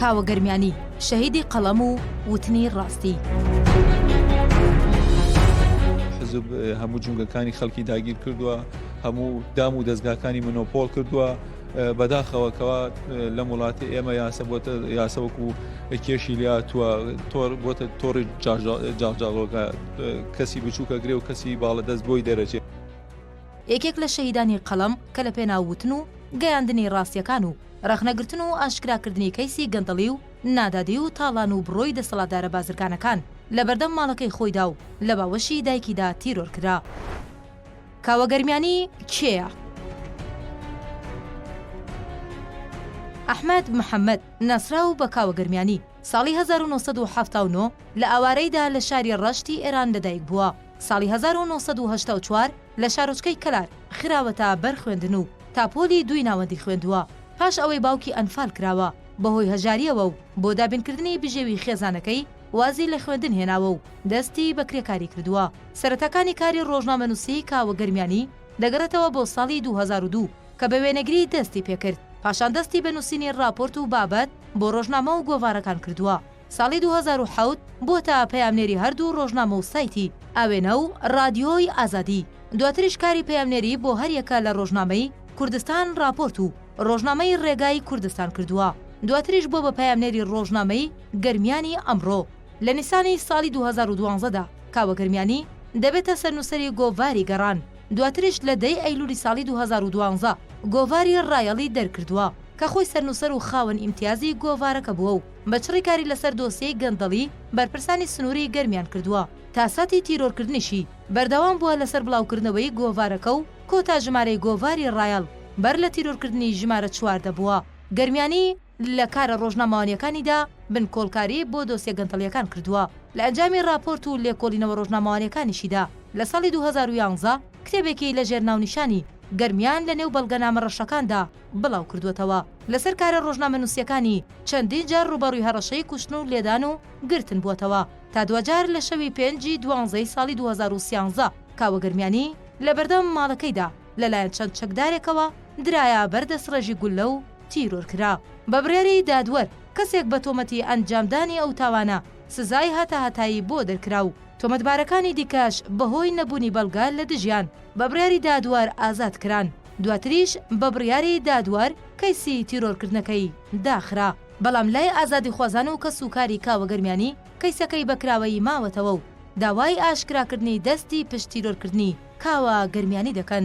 کاوە گەرمیانی، شەهیدی قەڵەم و وتنی ڕاستی. حزب هەموو جونگەکانی خەڵکی داگیر کردووە هەموو دام و دەستگاکانی منۆپۆل کردووە بەداخەوە کەوا لە وڵاتی ئێمە یاسە بۆتە یاسەوەکو کێشی لاتوە تۆر بۆتە تۆڕی جاجاڵۆگە کەسی بچووکە گرێ و کەسی باڵە دەست بۆی دەرەچێت. یەکێک لە شەهیدانی قەڵەم کە لە پێناو وتن و گەیاندنی ڕاستیەکان و ڕەخنەگرتن و ئاشکراکردنی کەیسی گەندەڵی و نادادی و تاڵان و بڕۆی دەسەڵاتدارە بازرگانەکان لە بەردەم ماڵەکەی خۆیدا و لە باوەشی دایکیدا تیرۆر کرا. کاوە گەرمیانی کێیە؟ ئەحمەد محەمەد، ناسراو بە کاوە گەرمیانی، ساڵی هەزار و نۆ سەد و حەفتا و نۆ لە ئاوارەیدا لە شاری ڕەشتی ئێران لەدایکبووە، ساڵی هەزار و نۆ سەد و هەشتا و چوار لە شارۆچکەی کەلار خراوەتە بەر خوێندن و تا پۆلی دووی ناوەندی خوێندووە، پاش ئەوەی باوکی ئەنفال کراوە بەهۆی هەژارییەوە و بۆ دابینکردنی بژێوی خێزانەکەی وازی لە خوێندن هێناوە و دەستی بە کرێکاری کردووە. سەرەتاکانی کاری ڕۆژنامەنووسیی کاوە گەرمیانی دەگەڕێتەوە بۆ ساڵی دوو هەزار و دوو کە بە وێنەگری دەستی پێکرد، پاشان دەستی بە نووسینی ڕاپۆرت و بابەت بۆ ڕۆژنامە و گۆڤارەکان کردووە. ساڵی دوو هەزار و حەوت بووەتە پەیامنێری هەردوو ڕۆژنامە و سایتی، ئاوێنە، و، ڕادیۆی ئازادی، دواتریش کاری پەیامنێری بۆ هەریەکە لە ڕۆژنامەی، کوردستان ڕاپۆرت، و، ڕۆژنامەی ڕێگای کوردستان، کردووە، دواتریش بووە بە پەیامنێری ڕۆژنامەی، گەرمیانی ئەمڕۆ، لە نیسانی ساڵی دوو هەزار و دوازدە دا، کاوە گەرمیانی دەبێتە سەرنووسەری گۆڤاری، گەڕان، دواتریش لە دە ی ئەیلوولی ساڵی دوو هەزار و دوازدە گۆڤاری، ڕایەڵ، ی دەرکردووە، کە خۆی سەرنووسەر و خاوەن ئیمتیازی گۆڤارەکە بووە و، بە چڕی کاری لەسەر دۆسیەی گەندەڵی بەرپرسانی سنووری گەرمیان کردووە، تا ساتی تیرۆرکردنیشی بەردەوام بووە لەسەر بڵاوکردنەوەی گۆڤارەکە و کۆتا ژمارەی گۆڤاری ڕایەڵ بەر لە تیرۆرکردنی ژمارە چوار دەبووە. گەرمیانی لە کارە ڕۆژنامەوانییەکانیدا بنکۆڵکاری بۆ دۆسیە گەندەڵییەکان کردووە، لە ئەنجامی ڕاپۆرت و لێکۆڵینەوە ڕۆژنامەوانییەکانیشیدا لە ساڵی دوو هەزار و یازدە کتێبێکی لەژێر ناونیشانی گەرمیان لەنێو بەڵگەنامە ڕەشەکاندا بڵاوکردووەتەوە. لەسەر کارە ڕۆژنامەنووسییەکانی چەندین جار ڕووبەڕووی هەڕەشەی کوشتن و لێدان و گرتن بووەتەوە، تا دواجار لە شەوی پێنج ی دوانزە ی ساڵی دوو هەزار و سیانزە کاوە گەرمیانی لەبەردەم ماڵەکەیدا لەلایەن چەند چەکدارێکەوە درایە بەر دەستڕێژی گوللە و تیرۆر کرا. بە بڕیاری دادوەر، کەسێک بە تۆمەتی ئەنجامدانی ئەو تاوانە سزای هەتاهەتایی بۆ دەرکرا و تۆمەتبارەکانی دیکەش بەهۆی نەبوونی بەڵگە لە دژیان، بە بڕیاری دادوەر ئازاد کران. دواتریش بە بڕیاری دادوەر کەیسی تیرۆرکردنەکەی داخرا. بەڵام لای ئازادیخوازان و کەسوکاری کاوە گەرمیانی کەیسەکەی بە کراوەیی ماوەتەوە و داوای ئاشکراکردنی دەستی پشت تیرۆرکردنی کاوە گەرمیانی دەکەن.